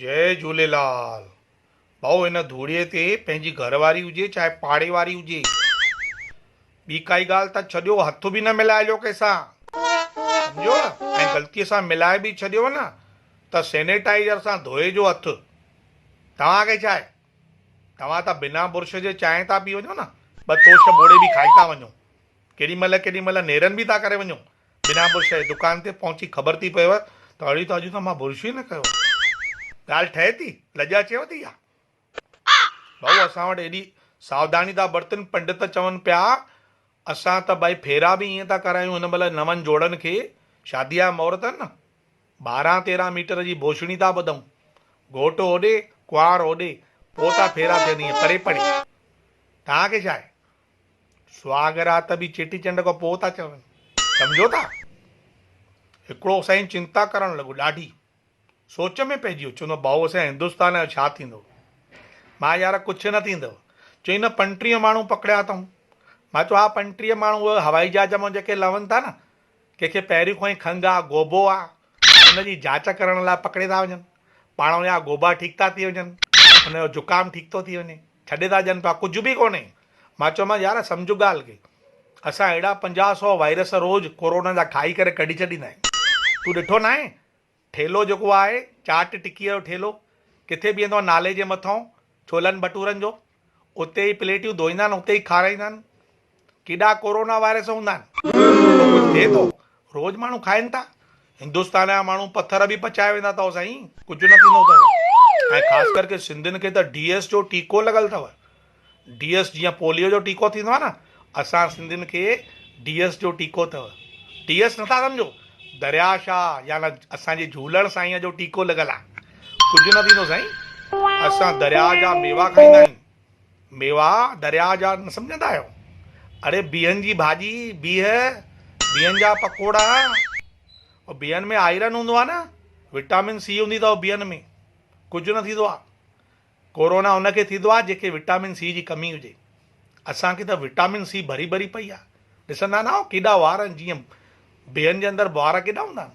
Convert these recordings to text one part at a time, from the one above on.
جئي جهوليلال ڀائو هن ڌوڙي تي پنهنجي گهر واري هجي چاهي پاڙي واري هجي ٻي ڪائي ڳالهه ته ڇڏيو هٿ به نه ملائجو ڪنهن سان سمجهيو ۽ غلطي سان ملائي به ڇڏيو نه ته سينيٽائيزر سان ڌوئجو هٿ توهان کي ڇا آهي توهان ته بنا برش جي چانهه ٿا پي وڃو نه ٻه توش ٻوڙي به کائي ٿا وڃو ڪيڏي مهل ڪيڏي مهل نيرن به ٿا ڪري وڃو بنا برش جي دڪان تي پهچي خبر ٿي پيو ته اڙي ته اڄ ته مان برش ئي نه ڪيو آهي. ڳالهه ٺهي ٿي؟ لڄ اچيو ٿي ڇا؟ ڀائو اسان وٽ ايڏي ساوڌاني ٿا برتن پنڊت چون پيا اسان ته ڀائي ڦيرا به ائين ٿا ڪرايون هن مهل نون جوڙن کي شاديء جا مهورت آهن نه ٻارهن تيرهن ميٽر جي بوشڻي ٿا ٻڌون گهوٽ هوڏي ڪنوار هوڏي پوء ٿا ڦيرا ٿين ائين پري پڙي توهان کي ڇا آهي. سهاڳ رات به چيٽي چنڊ کان پوء ٿا چون، سمجهو ٿا؟ هڪڙو سائين چنتا ڪرڻ لڳو، ڏاڍي سوچ ۾ پئجي ويو، چوندو ڀائو اسان هندستان جو ڇا ٿيندو؟ مان يار ڪڇ نه ٿيندو، چوئين نه پنٽيهه ماڻهو پڪڙيا اٿئون، مان چيو ها پنٽيهه ماڻهو اهي هوائي جهاز مان جيڪي لهن ٿا نه، ڪنهن کي پهريون کان ئي کنگهه آ، گوبو آ، ان جي جاچ ڪرڻ لاء پڪڙي ٿا وڃن، پاڻ وڃان گوبا ٺيڪ ٿا ٿي وڃن، ان جو زڪام ٺيڪ ٿو ٿي وڃي. ڇڏي ٿا ڏين پيا ڪجهه به ڪونهي مان چيومانس يار سمجهه ڳالهه کي اسان اهڙا پنجاهه سؤ وائرس روز ڪورونا جا کائي ڪري ڪڍي ڇڏيندا آهيون تون ڏٺو ناهي ٺيلهو جيڪو آهي چاٽ ٽڪيء جو ٺيلهو ڪٿي بيهندو آهي نالي جي مٿئون ڇولن ڀٽورن جو اتي ئي پليٽيون ڌوئيندا آهن اتي ئي کارائيندا آهن ڪيڏا ڪورونا وائرس هوندا آهن اهو ڪجهه ٿئي ٿو روز ماڻهو کائين ٿا هندستان جا ماڻهو پٿر به پچائي ويندا اٿئو سائين ڪجهه نه ٿيندو اٿئو ۽ خاص ڪر ڪي سنڌين کي ته ڊي ايس جو ٽيڪو لڳل اٿئو ڊي ايس جيئن پوليو جو ٽيڪو ٿيندو آهي نه اسان سنڌين کي ڊي ايس جو ٽيڪو اٿئو ڊي ايس نٿا سمجهو دريا شاهه يا نه اسان جي جهولڻ سائين جو ٽيڪو لڳل آهي ڪجهه نه ٿيندو سائين اسان دريا جا ميوا کائيندا آهيون ميواه درياء جا نه سمجهندا آهيو؟ اڙي بيهن جي ڀاڄي، بيهه، بيهن جا پڪوڙا، او بيهن ۾ آئرن هوندو آهي نه، وٽامن سي هوندي اٿئو بيهن ۾، ڪجهه نه ٿيندو آهي، ڪورونا ان کي ٿيندو آهي جنهن کي وٽامن سي جي ڪمي هجي، اسان کي ته وٽامن سي ڀري ڀري پئي آهي، ڏسندا ناهو ڪيڏا وار آهن جيئن بيهن جي اندر وار ڪيڏا هوندا آهن.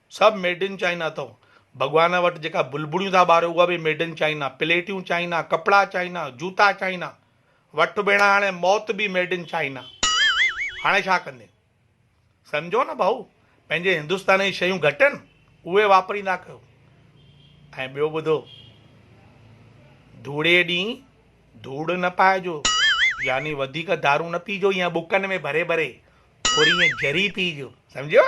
سڀ ميڊ ان چائنا اٿئو ڀڳوان وٽ جيڪا بلبڙيون ٿا ٻاريو اها به ميڊ ان چائنا پليٽيون چائنا ڪپڙا چائنا جوتا چائنا وٺ ڀيڻا هاڻي موت به ميڊ ان چائنا هاڻي ڇا ڪندين سمجهو نه ڀائو پنهنجي هندستان جي شيون گهٽ آهن اهي واپريندا ڪيو ۽ ٻيو ٻڌو ڌوڙي ڏينهن ڌوڙ نه پائجو يعني وڌيڪ دارون نه پيجو ائين ٻڪن ۾ ڀري ڀري ٿوري ائين جري پيجو سمجهيو